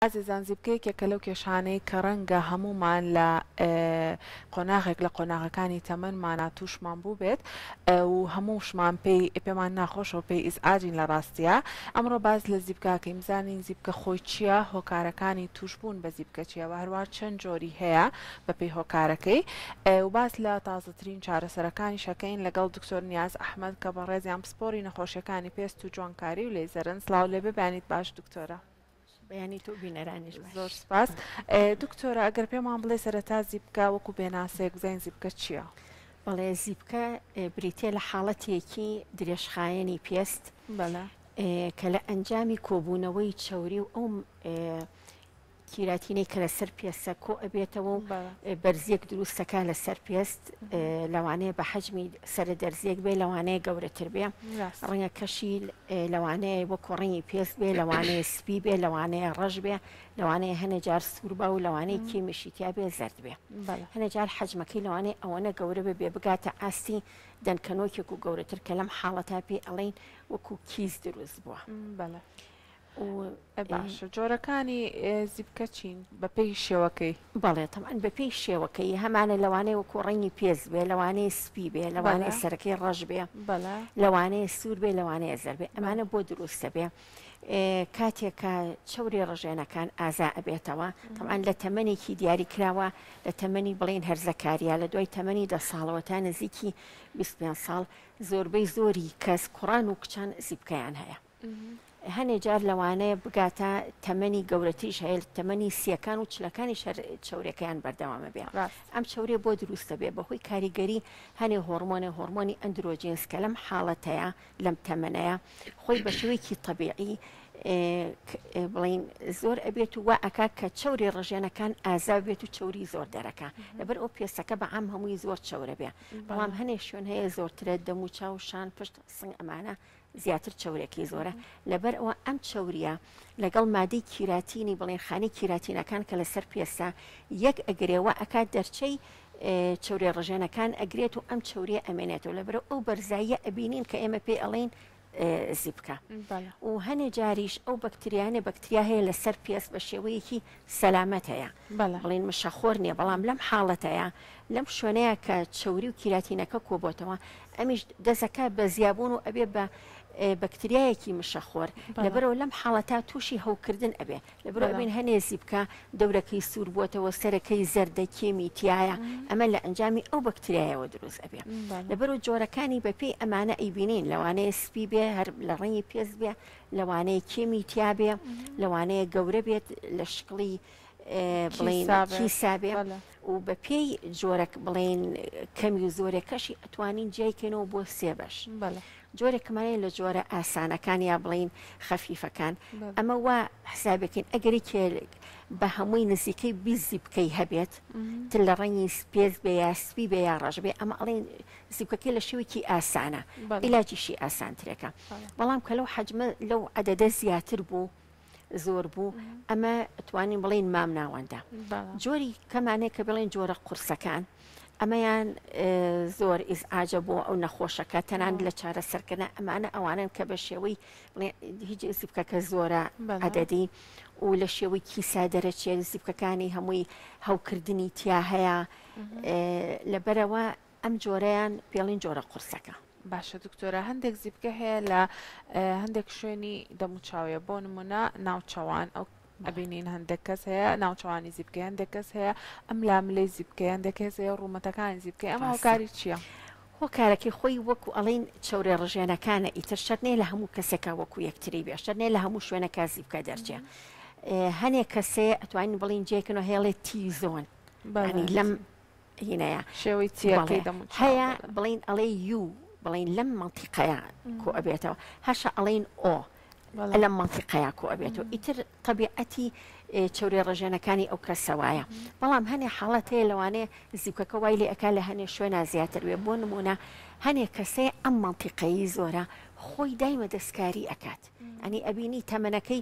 ئازیزان زیپکە یەکێکە لەو کێشانەی کە ڕەنگە هەموومان لە قۆناغێک لە قۆناغەکانی تەمەنمانا تووشمان بووبێت و هەمووشمان پێی پێمان ناخۆشە و پێی ئیزعاجین لە ڕاستیە ئەمڕۆ باس لە زیپکاکەی بزانین زیپکە خۆی چییە هۆکارەکانی تووشبوون بە زیپکە چیە و هەروە چەند جۆری هەیە بەپێی هۆکارەکەی و باس لە تازەترین چارەسەرەکانی شەکەین لەگەڵ دکتۆر نیاز ئەحمەد کە بەڕێزیان پسپۆری نەخۆشیەکانی پێست و جوانکاری و لەیزەرن سڵاو لێبێ بەیانیت باش دکتۆرە. بەیانی تۆو بینەرانیش باش. زۆر سپاس دکتۆرە ئەگەر پێمان بڵێ سەرەتا زیپکە وەکو پێناسەیەک بزانین زیپکە چییە؟ بەڵێ زیپکە بریتە لە حاڵەتێکی درێژخایەنی پێست کە لە ئەنجامی کۆبوونەوەی چەوری و ئەو کیراتینەی کە لەسەر پێسە کۆ ئەبێتەوە و بەرزیەک دروستەکە لەسەر پێست لەوانەیە بە حەجمی سەرە دەرزیەک بێ لەوانەیە گەورەتر بێ ڕەنگە کەشی لەوانەیە وە کۆڕنگی پێست بێ لەوانەیە سپی بێ لەوانەیە ڕەش بێ لەوانەیە هەنێ جار سوور بە و لەوانەیە کیمیشی تیا بێ زرد بێ هەنێ جار حەجمەکەی لەوانەیە ئەوەنە گەورە بێ بێ بگاتە ئاستی دەنکەنۆکێک و گەورەتر کە لەم حاڵەتا پێ ئەڵین وەکو کیس دروست بووە بەڵێ. و باشە جۆرەکانی زیپکە چین بەپێی شێوەکەی؟ بەڵێ تەمان بەپێی شێوەکەی هەمانە لەوانەیە وەکو ڕەنگی پێست بێ لەوانەیە سپی بێ لەوانەیە سەرەکەی ڕەش بێ لەوانەیە سوور بێ لەوانەیە زەر بێ ئەمانە بۆ دروستە بێ کاتێکە چوری ڕژێنەکان ئازا ئەبێتەوە تەمان لە تەمەێکی دیاری کراوە لە تەمەنی بڵین هەرزەکاریە لە دوای تەمەنی دە ساڵەوە تا نزیکی 25 ساڵ زۆربەی زۆری کەس کوڕان و کچان زیبکەیان هەیە هەنێ جار لەوانەیە بگاتە تەمەنی گەورەتریش هەیە تەمەنی سیەکان و چلەکانی شەر چورێکەکەیان بەردەوامە بێ ڕاست ئەم چورێ بۆ دروستە بێ بەهۆی کاریگەری هەنێ هۆرمۆنێ هۆرمۆنی ئەندرۆجینس کە لەم حاڵەتەیە لەم تەمەنەیە خۆی بە شێوەیەکی طبیعی بڵین زۆر ئەبێت و وا ئەکا کە چوری ڕژێنەکان ئازا بێت و چوری زۆر دەرەکە لەبەر ئەو پێستەکە بە ئەم هەمووی زۆر چورە بێ بەڵام هەنێ شوێن هەیە زۆرترە دەموچاو شان پشت سنگ ئەمانە زیاتر چەورێکی زۆرە لەبەر ئەوە ئەم چەوریە لەگەڵ مادەی کیراتینی بڵێن خانی کیراتینەکان کە لەسەر پێستا یەک ئەگرێ و ئەکات دەرچەی چورێ ڕژێنەکان ئەگرێت و ئەم چوریە ئەمێنێت و لەبرە ئەو بەرزاییە ئەبینین کە ئێمە پێ ئەڵین زیبکە و هەنێ جاریش ئەو بەکتریانە بەکتریا هەیە لەسەر پێست بە شێوەیەکی سەلامەتەیە بەڵێ. بڵێن مشەخۆر نیە بەڵام لەم حاڵەتەیا لەم شوێنەیا کە چەوری و کیراتینەکە کۆبۆتەوە ئەمیش دەزەکە بە زیابوون و ئەبێ بە بەکتریایەکی مشەخۆر بەڵێ. لەبەرەوە لەم حاڵەتا تووشی هەوکردن ئەبێ لەبەرەوە بەڵێ. ئەبین هەنێ زیپکە دەورەکەی سوور بووەتەوە سەرەکەی زەردە کێمی تیایە ئەمە لە ئەنجامی ئەو بەکتریایەوە دروست ئەبێ بەڵێ. لەبەرو جۆرەکانی بەپێی ئەمانە ئەیبینین لەوانەیە سپی بێ هەر لە ڕەنگی پێست بێ لەوانەیە کێمی تیابێ لەوانەیە گەورە بێت لە شکڵی کیسابێ و بە پێی جۆرەک بڵێن کەمی و زۆرەکەشی ئەتوانین جیایکەنەوە بۆ سێ بەش جۆرەکەمانەیە لە جۆرە ئاسانەکان یا بڵین خەفیفەکان ئەمە وا حسابەکەین ئەگەری کێ بە هەمووی نزیکەی بیزی بکەی هەبێت تل لە ڕەنگی سپێز بێ یا سپی بێ یا ڕژبێ ئەمە ئەڵێن زیپکەکەی لە شێوەیەکی ئاسانە ئیلاجیشی ئاسانترێکە بەڵام کە لەو حەجمە لەو عەدەدە زیاتر بوو زۆر بوو ئەمە توانین بڵین مام ناوەندە جۆری کەمانەیە کە بڵێن جۆرە قورسەکان ئەمەیان زۆر ئیزعاجە بۆ ئەو نەخۆشەکە تەنان لە چارە سەرکردە ئەمانە ئەوانن کە بە شێوەی هیچ زیبکەکە زۆرە عدەدی و لە شێوەی کیسا دەرەچێت زیبکەکانی هەمووی هەوکردنی تیا هەیە لەبەرەوە ئەم جۆرەیان پێڵین جۆرە قورسەکە. باشە دکتۆرە هەندێک زیپکە هەیە لە هەندێک شوێنی دەموچاویە بۆ نمونە ناوچەوان ئەو ئەبینین هەندێک کەس هەیە ناوچوانی زیبکە هەندێک کەس هەیە ئەم لاملەی زیبکە هەندێک کەس هەیە ڕوومەتەکانی زیبکە ئەم هاوکاری چییە؟ هۆکارەکەی خۆی وەکو ئەڵین چەورێ ڕژێنەکانە ئیتر شەرنێ لە هەموو کەسێکا وەکو یەکتری بێ شەرنێ لە هەموو شوێنەکە زیبکە دەرچێ هەنێک کەسێ ئەتوانین بڵین جێکنەوە هێڵێ تیزۆن لەم هینەیە شێوەی چیەکەی دەموچ هەیە بڵین ئەڵێ یو بڵین لەم منتیقەیە کۆ ئەبێتەوە هەشە ئەڵین ئۆ لەم منتیقەیە کۆ ئەبێتەوە ئیتر طبیعەتی چورێ ڕژێنەکانی ئەو کەسە وایە بەڵام هەنێ حاڵەت هەیە لەوانێ زیکەکە وای لێ ئەکا لە هەنێ شوێنە زیاتر وێ بۆ نمونە هەنێ کەسێ ئەم منتیقەیی زۆرە خۆی دایمە دەستکاری ئەکات ئەنی ئەبینی تەمەنەکەی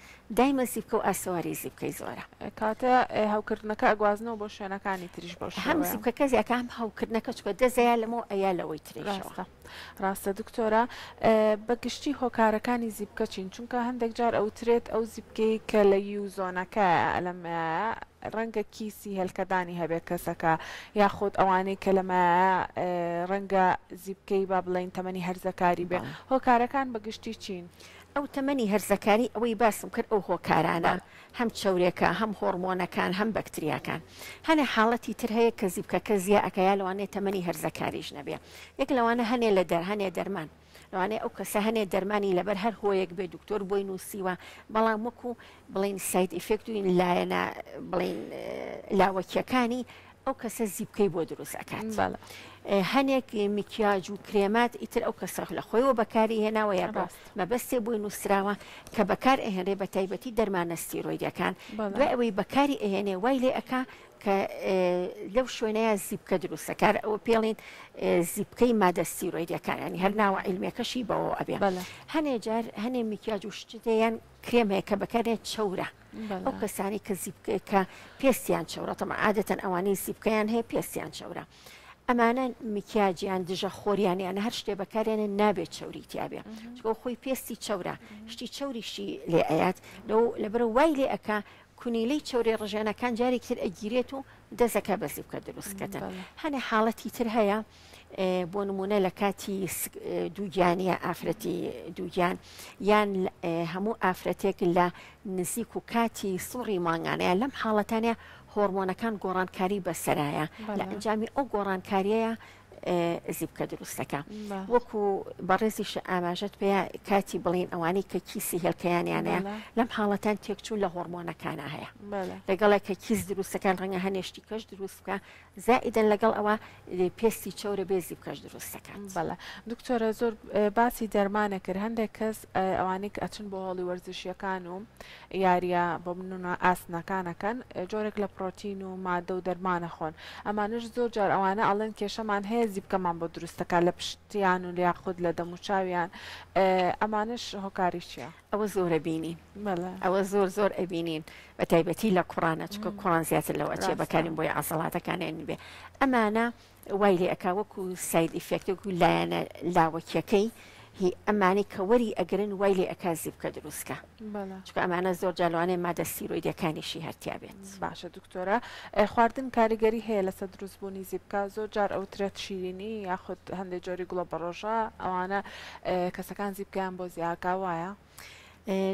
دایمە زیپکە و ئاسەواری زیپکەی زۆرە. کاتێ هەوکردنەکە ئەگوازنەوە بۆ شوێنەکانی تریش بەو هەم شێوەیە. زیپکەکە زیاتر هەم هەوکردنەکە چکە دەزە یا لەمەوە ئەیا لەوەی ترێشەوە. ڕاستە ڕاستە دکتۆرە ئە، بە گشتی هۆکارەکانی زیپکە چین؟ چونکە هەندێک جار ئەوترێت ئەو زیپکەی کە لە یو زۆنەکەیە ئە لەمایە ڕەنگە کیسی هێلکەدانی هەبێ کەسەکە یاخود ئەوانەی کە لەمایە ئە، ڕەنگە زیپکەی با بڵێین تەمەنی هەرزەکاری بێ بەڵێ. هۆکارەکان بە گشتی چین؟ ئەو تەمەنی هەرزەکاری ئەوەی باسم کرد ئەو هۆکارانە بەڵێ. هەم چەورێکە هەم هۆڕمۆنەکان هەم بەکتریاکان هەنێ حاڵەتی تر هەیە کە زیپکەکە زیا ئەکا یا لەوانەیە تەمەنی هەرزەکاریش نەبێ یەک لەوانە هەنێ لە دەر هەنێ دەرمان لەوانەیە ئەو کەسە هەنێ دەرمانی لەبەر هەر هۆیەک بێ دکتۆر بۆی نووسیوە بەڵام وەکو بڵین ساید ئیفێکت و لایەنە بڵین لاوەکیەکانی ئەو کەسە زیپکەی بۆ دروست ئەکات بەڵێ هەنێک میکیاج و کرێمات ئیتر ئەو کەسەخ لە خۆیەوە بەکاری هێناوە یا بە ڕاست مەبەستێ بۆی نووسراوە کە بەکار ئەهێنرێ بە تایبەتی دەرمانە ستیرۆیدەکان بەڵێ دوای ئەوەی بەکاری ئەهێنێ وای لێ ئەکا کە ئێ، لەو شوێنەیە زیپکە دروستەکار ئەوە پێڵین زیپکەی مادە ستیرۆیدەکان ینی هەر ناوە عیلمێکەشی بەوە ئەبێ بەڵێ هەنێ جار هەنێ میکیاج و شتێیان کرێم هەیە کە بەکارێ چەورە ئەو کەسانی کە زیبکە پێستیان چەورە تەمە عادەتەن ئەوانەی زیبکەیان هەیە پێستیان چەورە ئەمانە میکیاجیان دژە خۆریانیان هەر شتێ بەکارێنە نابێت چوری تیاابێ چۆ خۆی پێستی چەورە شتی چوریشی لێ ئەات لەو لەبەر وای لێ ئەک کونیلەی چورێ ڕژێنەکان جارێکتر ئەگیرێت و دەزەکە بەزی بکە دروستکەتە هەنێ حاڵەتی تر هەیە بۆ نمونە لە کاتی دووگیانە ئافرەتی دووگیان یان هەموو ئافرەتێک لە نزیک و کاتی سوڕی مانگانەیە لەم حاڵەتانە هۆرمۆنەکان گۆڕانکاری بەسەرایە لە ئەنجامی ئەو گۆڕانکاریەیە زیبکە دروستەکە وەکو بەڕێزیش ئاماژەت پێ کاتی بڵین ئەوانی کە کیسی هێلکەیانیانەیە لەم حاڵەتان تێکچوو لە هۆرمۆنەکانە هەیە لەگەڵێک کە کیس دروستەکان ڕەنگە هەنێشتی کەش دروست بکە زائیدەن لەگەڵ ئەوە پێستی چەورە بێزی بکەش دروست دەکات. بەڵێ دکتۆرە زۆر باسی دەرمانە کرد هەندێک کەس ئەوانەی کە ئەچن بۆ هۆڵی وەرزشیەکان و یاریە بۆ منە ئاسنەکانەکەن جۆرێک لە پرۆتین و مادە و دەرمانە خۆن ئەمانش زۆر جار ئەوانە ئەڵێن کێشەمان هەیە زیبکەمان بۆ دروستەکە لە پشتیان و لیاخود لە دەموچاویان ئەمانش هۆکاری چیە؟ ئەوە زۆر ئەبینین ئەوە زۆر زۆر ئەبینین بە تایبەتی لە کوڕانە چکە کوڕان زیاتر لەوە چێ بەکارین بۆی عسەڵاتەکانیان بێ ئەمانە وای لێ ئەک وەکو ساید ئیفێکتێک و لایەنە لاوەکیەکەی هی ئەمانی کە وەری ئەگرن وای لێ ئەکا زیبکە دروستکە چکە ئەمانە زۆر جالوانێ مادە سیرۆیدەکانیشی هەرتیا بێت. باشە دکتۆرە خواردن کاریگەری هەیە لەسەر دروست بوونی زیبکە زۆر جار ئەوترێت شیرینی یاخود هەندێک جۆری گوڵە بەڕۆژە ئەوانە کەسەکان زیبکەیان بۆ زیاکە وایە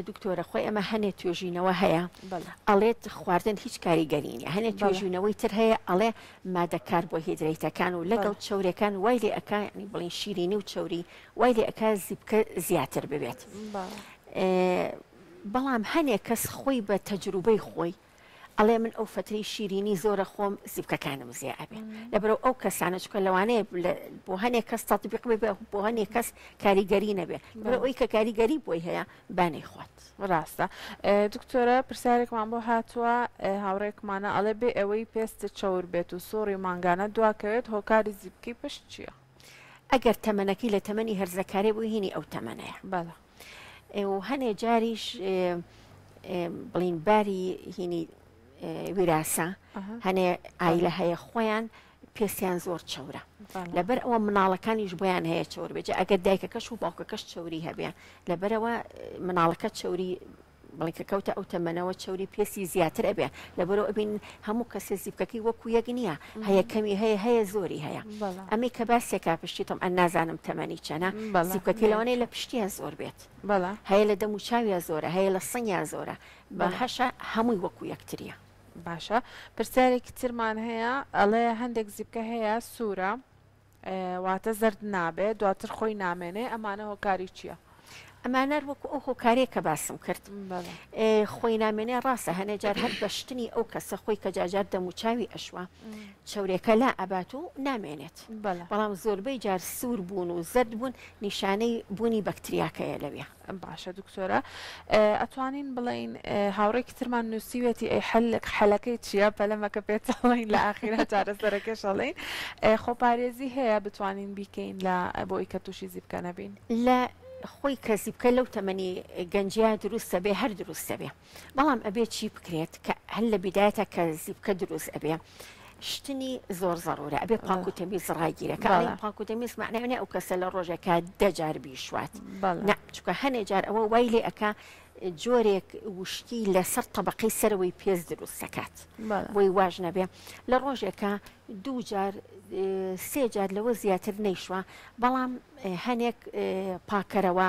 دکتۆرە خۆی ئەمە هەنێ توێژینەوە هەیە ئەڵێت خواردن هیچ کاریگەرینە هەنێ توێژینەوەی تر هەیە ئەڵێ مادەکار بۆ هیدرەیتەکان و لەگەڵ چورەکان وای لێ ئەکانی بڵین شیرینی و چوری وای لێ ئەک زیبکە زیاتر ببێت بەڵام هەنێ کەس خۆی بە تەجروبەی خۆی ئەڵێ من ئەو فەترەی شیرینی زۆرە خۆم زیپکەکانم زێ ئەبێ لەبرەو ئەو کەسانە چکە لەوانەیە بۆ هەنێ کەس تەطبیق بێ بۆ هەنێ کەس کاریگەری نەبێ لەبرە ئەوی کە کاریگەری بۆی هەیە بانەی خوات ڕاستە دکتۆرە پرسیارێکمان بۆ هاتووە هاوڕێکمانە ئەڵێ بێ ئەوەی پێست چاور بێت و سۆڕی مانگانە دواکەوێت هۆکاری زیپکی پشت چییە؟ ئەگەر تەمەنەکەی لە تەمەنی هەرزەکارێ بوو هینی ئەو تەمەنەیە بەڵە و هەنێ جاریش بڵین باری هینی ویراسە هەنێ ئایلە هەیە خۆیان پێستیان زۆر چەورە لەبەر ئەوە مناڵەکانیش بۆیان هەیە چۆر بێت ئەگەر دایکەکەش و باوکەکەش چوری هەبێ لەبەرەوە مناڵەکە چوری بەڵکە کەوتە ئەو تەمەنەوە چەوری پێستی زیاتر ئەبێ لەبەرو ئەبین هەموو کەسێ زیپکەکەی وەکو یەک نییە هەیە کەمی هەیە هەیە زۆری هەیە ئەمەی کە باسێکا پشتی تۆم ئەن نازانم تەمەنی چەنە زیپکەکەی لەوانەیە لە پشتیان زۆر بێت بەڵا هەیە لە دەم و چاویا زۆرە هەیە لە سنگیان زۆرە بە هەشە هەمووی وەکو یەکتریە باشە پرسیارێکی ترمان هەیە ئەڵێ هەندێک زیپکە هەیە سوورە واتە زەرد نابێ دواتر خۆی نامێنێ ئەمانە هۆکاری چییە؟ ئەمانەر وەکو ئەو هۆکارێک کە باسم کرد خۆی نامێنێ ڕاستە هەنێ جار هەر بەشتنی ئەو کەسە خۆی کە جاجار دەم و چاوی ئەشوە چورێکە لا ئەبات و نامێنێت بەڵام زۆربەی جار سوور بوون و زەرد بوون نیشانەی بوونی بەکتریاکەیە لەوێ باشە دکتۆرە ئەتوانین بڵین هاوڕێکی ترمان نووسیوێتی ئەی حلق حەلەکەی چییە پەلەمەکە پێچڵین لە ئاخیرا چارەسەرەکەشەڵین خۆپارێزی هەیە بتوانین بیکەین لە بۆی کە تووشی زیبکە نەبین لە خۆی کەسی بکە لەو تەمەنی گەنجیا دروستە بێ هەر دروستە بێ. بەڵام ئەبێ چی بکرێت کە هەر لە بیدایەتە کە زیپکە دروست ئەبێ شتنی زۆر زەرورە ئەبێ پاک و تەمیز ڕاگیرە کە ئەڵێن پاک و تەمیز معناێ ئەو کەسە لە ڕۆژێکە دەجار بیشوات چکە هەنێ جار ئەوە وای لێ ئەکا جۆرێک وشکی لەسەر طبقەی سەرەوەی پێز دروست دەکات بۆی واژ نەبێ لە ڕۆژێکە دوو جار سێ جار لەوە زیاتر نەیشوە بەڵام هەنێک پاکەرەوە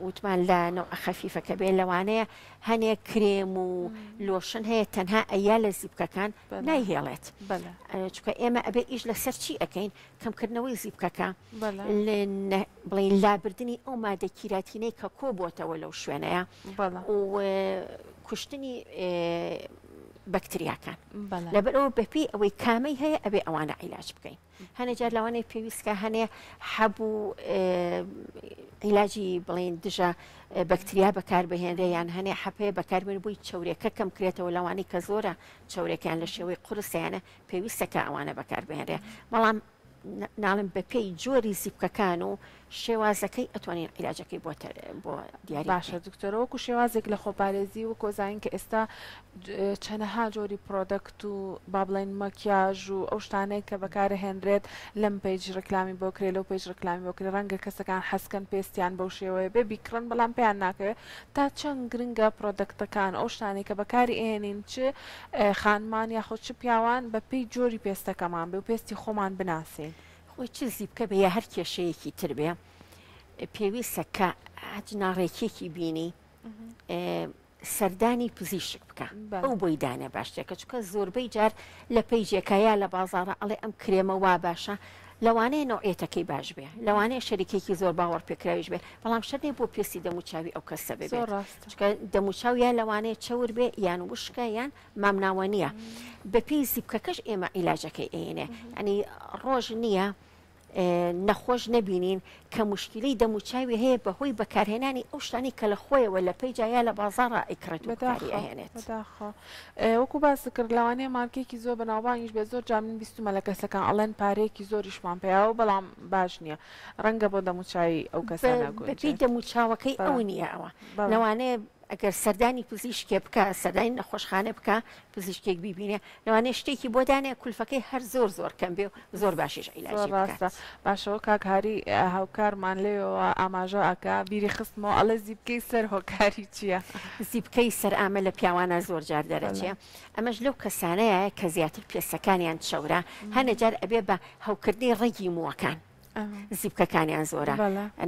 وتمان لە نەوعە خەفیفەکە بێ لەوانەیە هەنێ کرێم و لۆشن هەیە تەنها ئەیا لە زیبکەکان نایهێڵێت چکە ئێمە ئەبێ ئیش لەسەر چی ئەەکەین کەمکردنەوەی زیبکەکە بڵین لابردننی ئەو مادە کیراتینەی کە کۆ بۆتەوە لەو شوێنەیە کوشتنی بەکتریاکان لەبەرەوە بەپی ئەوەی کامەی هەیە ئەبێ ئەوانە عیلاج بکەین هەنێ جار لەوانەیە پێویستکە هەنێ حەب و عیلاجی بڵین دژە بەکتریا بەکاربهێنرێ یان هەنێ حەپەیە بەکاربێن بووی چورێکە کەم کرێتەوە لەوانی کە زۆرە چورێکیان لە شێوەی قرسیانە پێویستەکە ئەوانە بەکاربهێنرێ بەڵام ناڵم بەپێی جۆری زیپکەکان و شێوازەکەی ئەتوانین عیلاجەکەی بۆ بۆ دیاری بکەین. باشە دکتۆرە وەکو شێوازێک لە خۆپارێزی وەکۆ زانین کە ئێستا چەنەها جۆری پرۆدەکت و با بڵێن مەکیاژ و ئەو شتانەیە کە بەکارە هێنرێت لەم پێج ڕکلامی بۆ کرێ لەو پێج ڕکلامی بۆ کرێ ڕەنگە کەسەکان حەسکەن پێستیان بەو شێوەیە بێ بیکڕن بەڵام پێیان ناکەوێت تا چەند گرنگە پرۆدەکتەکان ئەو شتانەی کە بەکاری ئێنین چ خانمان یاخۆ چ پیاوان بە پێی جۆری پێستەکەمان بێ و پێستی خۆمان بناسین. خۆی چ زیپکە بێ یا هەر کێشەیەکی تر بێ پێویستە کە هەچ ناڕێکیەکی بینی سەردانی پزیشک بکە ئەو بۆی دانێ باشتێکە چکە زۆربەی جار لە پەیجێکە یا لە بازارە ئەڵێ ئەم کرێمە وا باشە لەوانەیە نوعێتەکەی باش بێ لەوانەیە شەریکێکی زۆر باوەڕ پێکراویش بێ بەڵام شەرێ بۆ پێسی دەموچاوی ئەو کەسە بێ دەموچاو یا لەوانەیە چەور بێ یان وشکە یان مامناوە نیە بەپێی زیپکەکەش ئێمە عیلاجەکەی ئەینێ ئەنی ڕۆژ نییە نەخۆش نەبینین کە مشکلی دەموچاوی هەیە بەهۆی بەکارهێنانی ئەو شتانی کە لە خۆیەوە لە پێیجایا لە بازارڕ ئیکرێت بەداخێنێت وەکو باسی کرد لەوانەیە مارکێکی زۆر بەناوبانگیش بێ زۆر جا من بیستمە لە کەسەکان ئەڵێن پارەیەکی زۆریشمان پیاوە بەڵام باش نییە ڕەنگە بۆ دەموچوی ئەو کەسانە دەموچاوەکەی ئەو نییە ئەوە لەوانەیە ئەگەر سەردانی پزیشکێ بکا سەردانی نەخۆشخانە بکا پزیشکێک بیبینێ لەوانەیە شتێکی بۆ دانێ کولفەکەی هەر زۆر زۆر کەم بێ و زۆر باشیش زۆر عیلاجی بکات. ڕاستە باشەوە کاک هاری هاوکارمان لێیەوە ئاماژە ئەکا بیری خستمەوە ئەڵێ زیپکەی سەر هۆکاری چیە؟ زیپکەی سەر ئامە لە پیاوانە زۆر جار دەرەچێ بەلام. ئەمەش لەو کەسانەیە کە زیاتر پێستەکانیان چەورە هەنێ جار ئەبێ بە هەوکردنی ڕەگی مووەکان. زیپکەکانیان زۆرە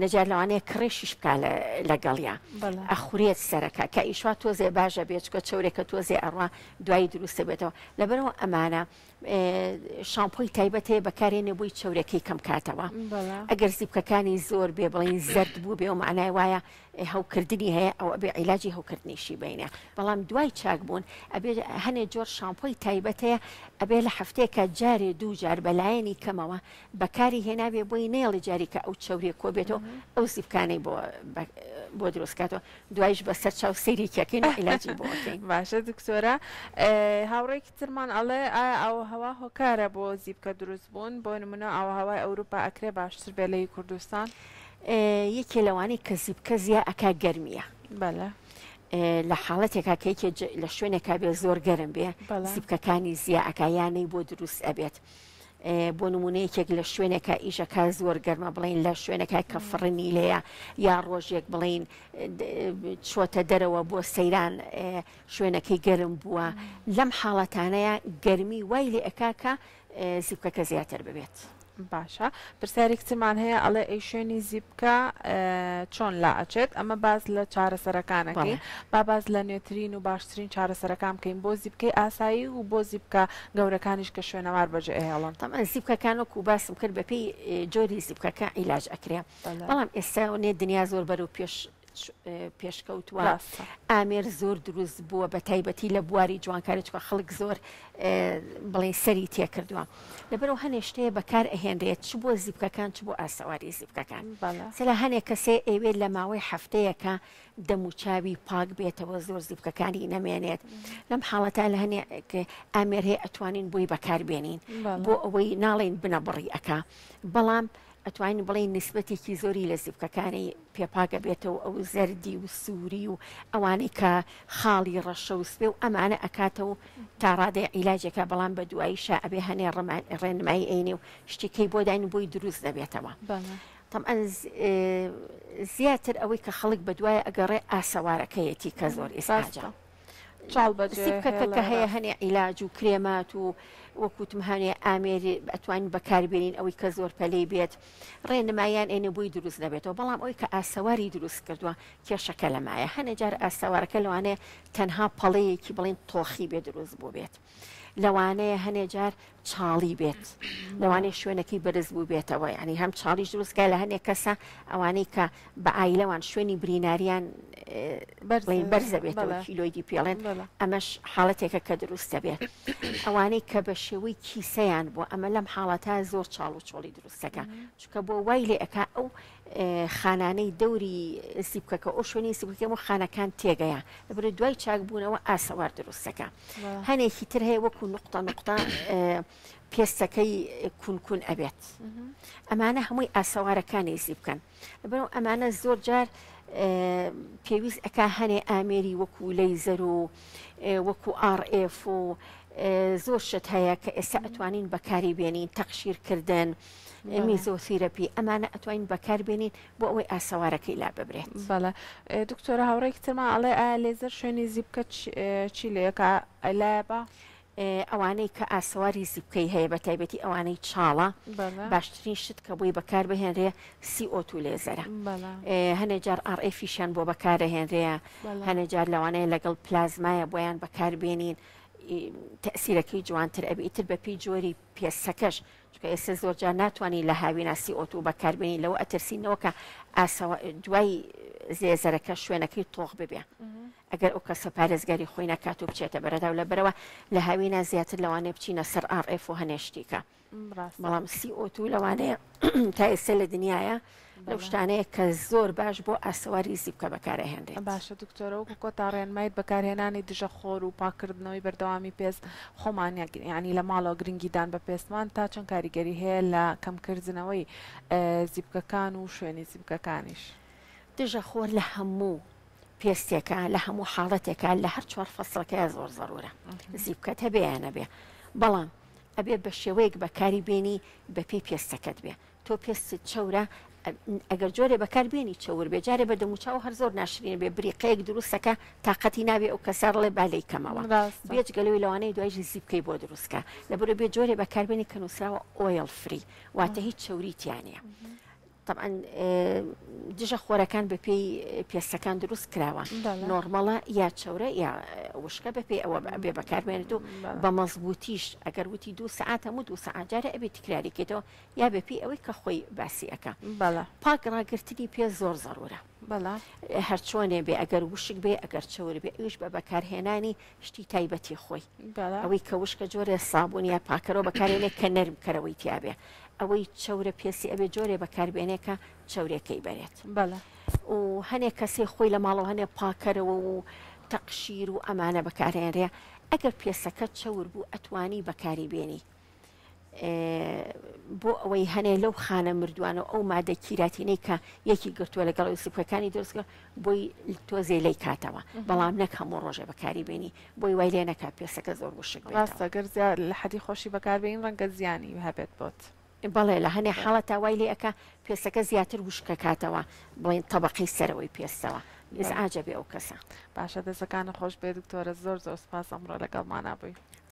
نەجار لەوانەیە کڕێشیش بک لەگەڵیا ئەخورێت سەرەکە کە ئیشوا تۆزێ باشە بێچکە چورێکە تۆزێ ئەڕوا دوایی دروستە بێتەوە لەبەرەوە ئەمانە شامپۆی تایبەت هەیە بەکارێنێ بووی چورێکی کەم کاتەوە ئەگەر زیپکەکانی زۆر بێ بڵین زرد بوو بێ و معنای وایە هەوکردنی هەیە ئەو ئەبێ عیلاجی هەوکردنیشی بینە بەڵام دوای چاک بوون ئەبێ هەنێ جۆر شامپۆی تایبەت هەیە ئەبێ لە هەفتێکە جارێ دوو جار بەلایەنی کەمەوە بەکاری هێنابێ بۆی نەیەڵێ جاری کە ئەو چەوریە کۆبێتەوە ئەو سیپکانەی بۆ بۆ دروستکاتەوە دوایش بەسەر چاو سەیریکەکەین عیلاجی بۆ باشە دکتۆرە هاوڕێکی ترمان ئەڵێ ئایا ئەو هەوا هۆکارە بۆ زیبکە دروست بوون بۆ نمونە ئەو هەوای ئەوروپا ئەکرێ باشتر بێ لەی کوردستان یەکێ لەوانی کە زیبکە زیە ئەکا گەرمیە بەە لە حاڵەتێکا کەیکێ لە شوێنێکا بێ زۆر گەرم بێ سیبکەکانی زیە ئەکایانەی بۆ دروست ئەبێت بۆ نمونە یەکێک لە شوێنێکە ئیشەکە زۆر گەرمە بڵین لە شوێنەکە کە فڕنی لێە یا ڕۆژێک بڵین چۆتە دەرەوە بۆ سەیران شوێنەکەی گەرم بووە لەم حاڵەتانەیە گەرمی وای لێ ئەکاکە زیبکەکە زیاتر ببێت. باشە پرسیارێکی ترمان هەیە ئەڵێ ئەی شوێنی زیپکە چۆن لا ئەچێت ئەمە باس لە چارەسەرەکانەکەی با باس لە نوێترین و باشترین چارەسەرەکان بکەین بۆ زیپکەی ئاسایی و بۆ زیپکە گەورەکانیش کە شوێنەوار بەجێ هێڵن تەمان زیپکەکان وەکو باسم کرد بەپی جۆری زیپکەکە عیلاج ئەکرێ بەڵام ئێستا نێ دنیا زۆر بەرەو پێش پێشکەوتوە ئامێر زۆر دروست بووە بە تایبەتی لە بواری جوانکاری چکە خەڵک زۆر بڵێ سەری تێکردووە لەبەرەوە هەنێشتەیە بەکار ئەهێنرێت چ بۆ زیبکەکان چ بۆ ئاسەواری زیبکەکان سەلا هەنێک کەسێ ئەوێ لە ماوەی هەفتەیەەکە دەموچاوی پاک بێتەوە زۆر زیبکەکانی نەمێنێت لەم حاڵەتا لە هەنێ ئامێرێ ئەتوانین بۆی بەکاربێنین بۆ ئەوەی ناڵێن بنە بڕی ئەک بەڵام ئەتوانین بڵێین نیسبەتێکی زۆری لە زیپکەکانی پێپاگ ئەبێتەوە ئەو زەردی و سووری و ئەوانەی کە خاڵی ڕەشە و سپێ و ئەمانە ئەکاتە و تا ڕادەی عیلاجێکە بەڵام بە دواییشە ئەبێ هەنێ ڕێنمایی ئەینێ و شتێکەی بۆ داین بۆی دروست دەبێتەوە طبعا زیاتر ئەوەی کە خەڵک بە دوایە ئەگەڕێ ئاسەوارەکەیەتی کە زۆر ئێستا چاڵ بەجێ سیب کەکە کە هەیە هێڵێرە. هەنێ عیلاج و کرێمات و وەک وتم هەنێ ئامێری ئەتوانین بەکاربێنین ئەوەی کە زۆر پەلەی بێت ڕێنمایان ئەینە بۆی دروست نەبێتەوە بەڵام ئەوی کە ئاسەواری دروست کردووە کێشەکە لەمایە هەنێ جار ئاسەوارەکە لەوانەیە تەنها پەڵەیەکی بڵێن تۆخی بێ دروست بوو بێت لەوانەیە هەنێ جار چاڵی بێت لەوانێ شوێنەکەی بەرز بوو بێتەوە ینی هەم چاڵیش دروستکە لە هەنێک کەسە ئەوانەی کە بە ئایلەوان شوێنی بریناریان بەرزە بێتەوە کیلۆیدی پێڵێن ئەمەش حاڵەتێکە کە دروستە بێت ئەوانەی کە بە شێوەی کیسەیان بۆ ئەمە لەم حاڵەتە زۆر چاڵ و چۆڵی دروستەکە چکە بۆ وای لێ ئەک ئەو خانانەی دەوری سیبکەکە ئەو شوێنی سیبکەم و خانەکان تێگەیە لەبرە دوای چاک بوونەوە ئاسەوار دروستەکە هەنێکی تر هەیە وەکو نقطە نقطە پێستەکەی کونکون ئەبێت ئەمانە هەمووی ئاسەوارەکانی زی بکەن بەرەو ئەمانە زۆر جار پێویست ئەک هەنێ ئامێری وەکو لەی زەر و وەکو ئاڕF و زۆر شت هەیە کە ئێستا ئەتوانین بەکاری بێنین تەخشیرکردن میزۆثیرەپی ئەمانە ئەتوانین بەکاربێنین بۆ ئەوەی ئاسەوارەکەی لا ببرێت بەڵە دکتۆرە هاوڕێکی ترمان ئەڵێ ئا لێزەر شوێنی زیبکە چی لەکە لایە بە ئەوانەی کە ئاسەواری زیبکەی هەیە بە تایبەتی ئەوانەی چاڵە باشترین شت کە بۆی بەکار بهێنرێ سیئۆت و لێزەرە هەنێ جار ئاڕئفیشیان بۆ بەکارەهێنرەیە هەنێ جار لەوانەیە لەگەڵ پلازمایە بۆیان بەکاربێنین تەسیرەکەی جوانتر ئەبی ئیتر بەپی جۆری پێستەکەش چونکە ئێستا زۆر جار ناتوانین لە هاویناسی ئۆتو بەکاربێنین لەوە ئەترسینەوە کە ئاسەوە دوای زێزەرەکە شوێنەکەی تۆخ ببێ ئەگەر ئەو کەسە پارێزگاری خۆی نکات و بچێتە بەرەدا و لە بەرەوە لە هاوینا زیاتر لەوانێ بچینە سەر ئاڕف و هەنێشتیکە بەڵام سی ئۆتو لەوانەیە تا ئێستا لە دنیاە لەو شتانەیە کە زۆر باش بۆ ئاسەواری زیپکە بەکار ئەهێنرێت. باشە دکتۆرە وەکو کۆتا ڕێنمایت بەکارهێنانی دژە خۆر و پاککردنەوەی بەردەوامی پێست خۆمان یانی لە ماڵەوە گرنگی دان بە پێستمان تا چەند کاریگەری هەیە لە کەمکردنەوەی زیپکەکان و شوێنی زیپکەکانیش؟ دژە خۆر لە هەموو پێستێکە لە هەموو حاڵەتێکە لە هەر چوار فەسڵەکەیە زۆر زەرورە زیپکەت هەبێ یانەبێ بەڵام ئەبێ بە شێوەیەک بەکاری بێنی بەپی پێستەکەت بێ تۆ پێستت چەورە ئەگەر جۆرێ بەکار بێنی چەور بێ جارێ بە دەموچاو هەر زۆر ناشرین بێ بریقەیەک دروستەکە تااقەتی ناوێ ئەو کەسە ڕڵێ بالەی کەمەوە بێچ گەلەوەی لەوانەیە دوای ژزی بکەی بۆ دروستکە لە بەرە بێ جۆرێ بەکاربێنی کە نووسراوە ئۆیل فری واتە هیچ چەوریتیانە. طبعا دژە خۆرەکان بە پێی پێستەکان دروست کراوە نۆرمەڵە یا چەورە یا وشکە بە پێی ئەوە بێ بەکارمێنێت و بە مەزبوتیش ئەگەر وتی دو سعات هەموو دو سعاتجارە ئەبێت تکراریکێتەوە یا بە پێی ئەوەی کە خۆی باسی ئەکا بەڵا پاک ڕاگرتنی پێ زۆر زەرورە بەڵا هەرچۆنێ بێ ئەگەر وشک بێ ئەگەر چەور بێ ئەویش بە بەکارهێنانی شتی تایبەتی خۆی بەڵا ئەوەی کە وشکە جۆرێ سابوون یا پاکەرەوە بەکارێنێ کە نەرم کەرەوەی تیاابێ ئەوەی چەورە پێسی ئەبێ جۆرێ بەکاربێنێکە چەورێکەی بەرێت بەڵا و هەنێک کەسێ خۆی لە ماڵەوە هەنێ پاکەرەوە و تەقشیر و ئەمانە بەکارێنرێ ئەگەر پێسەکە چەور بوو ئەتوانی بەکاری بێنی بۆ ئەوەی هەنێ لەو خانە مردووانە و ئەو مادە کیراتینەی کە یەکی گرتووە لەگەڵ سفەکانی دۆستگە بۆی تۆزێ لی کاتەوە بەڵام نەک هەموو ڕۆژێ بەکاری بینی بۆی وای لێ نەکات پێسەکە زۆر وشک ڕاستەگەر زیاد لە حەدی خۆشی بەکاربین ڕەنگە زیانی هەبێت بۆت. بەڵێ لە هەنێ حاڵە تاوای لێ ئەکا پێستەکە زیاتر وشکەکاتەوە بڵێن تەبقی سەرەوەی پێستەوە ئز عجبێ ئەو کەسە باشە دەسەکانە خۆش بێ دکتۆرە زۆر زۆر سپاس ئەمڕۆ لەگەڵمانە بووی.